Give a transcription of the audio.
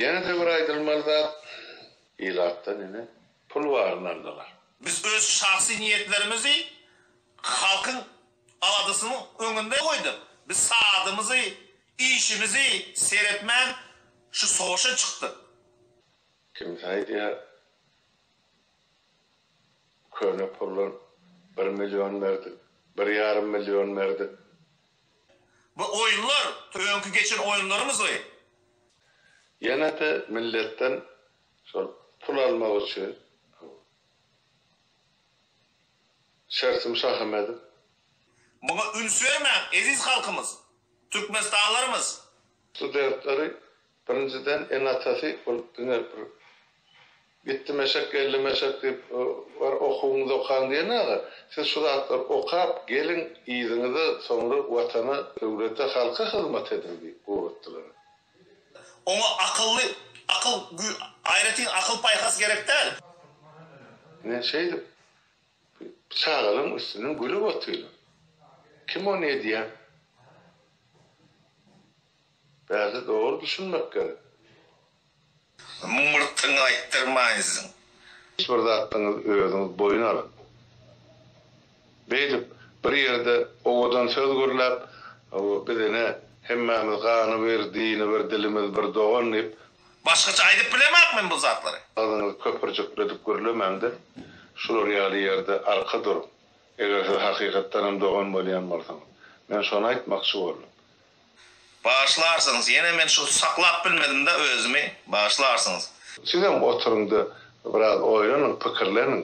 Ýene-de bir aýdylmaly zat, ilatdan ine, pul baryny aldylar. Biz öz şahsy niýetlerimizi halkyň aladasynyň öňünde goýduk. Biz sadymyzy, işimizi seretmän şu sowaşa çykdyk. Kimsi aýdýar, köne puldan bir million berdik, bir ýarym million berdik. Bu oýunlar öňki geçen oýunlarymyzly. Ýene-de milletden şol pul almak üçin şertim şahym edip. Muňa üns bermäň, eziz halkymyz, türkmenistanlarymyz! Studentleri Birinjiden enatasy ol diňe bir gitdimeşek geldimeşek diýip bar okuwyňyzy okaň diýen aga siz şu zatlary okap geliň yzyňyza soňra watana döwlete halka hyzmat ediň diýip guratdylar. Oňa akylly akyl güý aýratyn akyl paýhas gerek däl. Ine şeýdip bir çagalaň üstünden gülüp otylar. Kim ony edýär? Bärde dogry düşünmek gerek. Mymyrtyňy aýtdyrmaýsyn. Hiç bir zadyňyzy özüňiz boýun alyp, beýdip bir ýerde owadan söz gürläp, biz ine hemmämiz gany bir, dini bir, dilimiz bir dogan diýip. Başgaça aýdyp bilemak men bu zatlary. Agzyňyzy köpürjikledip gürlemäňde, şular ýaly ýerde arka duruň. Eger siz hakykatdanam dogan bolýan bolsaňyz. Men şony aýtmakçy boldum. Bagyşlarsyňyz, ýene men şu saklap bilmedim-de özümi, bagyşlarsyňyz. Sizem oturyň-da, biraz oýlanyň, pikirleniň.